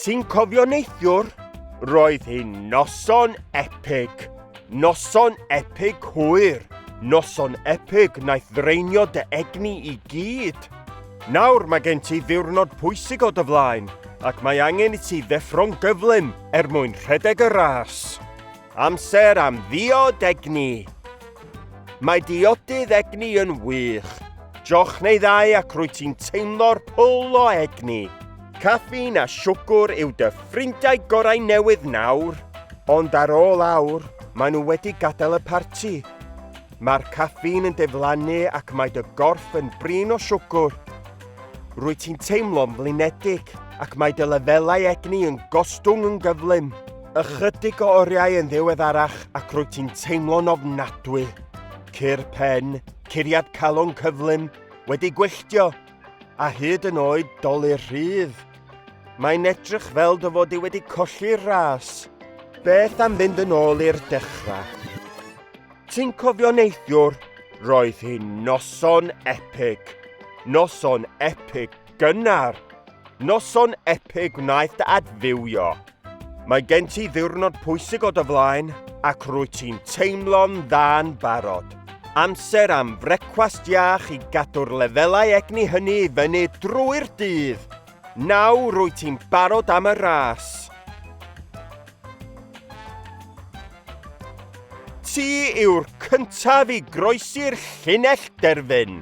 Ti'n cofio neithiwr? Roedd hi'n noson epig. Noson epig hwyr. Noson epig naeth ddraenio dy egni i gyd. Nawr mae gen ti ddiwrnod pwysig o dy flaen ac mae angen i ti ddeffro'n gyflym er mwyn rhedeg y ras. Amser am ddiod egni! Mae diodydd egni yn wych. Joch neu ddau ac rwyt ti'n teimlo'r pwl o egni. Caffeine a siwgr yw dy ffrindiau gorau newydd nawr. Ond ar ôl awr, maen nhw wedi gadael y parti. Mae'r caffîn yn diflannu ac mae dy gorff yn brin o siwgr. Rwyt ti'n teimlo'n flinedig ac mae dy lefelau egni yn gostwng yn gyflym. Ychydig o oriau yn ddiweddarach ac rwyt ti'n teimlo'n ofnadwy. Cur pen, curiad calon cyflym, wedi gwylltio, a hyd yn oed dolu rhydd. Mae'n edrych fel dy fod i wedi colli'r ras. Beth am fynd yn ôl i'r dechrau? Ti'n cofio neithiwr? Roedd hi'n noson epig. Noson epig gynnar. Noson epig wnaeth dy adfywio. Mae gen ti ddiwrnod pwysig o dy flaen ac rwy ti'n teimlo'n dda'n barod. Amser am frecwast iach i gadw'r lefelau egni hynny i fyny drwy'r dydd. Nawr rwy ti'n barod am y ras. Ti yw'r cyntaf i groesi'r llinell derfyn.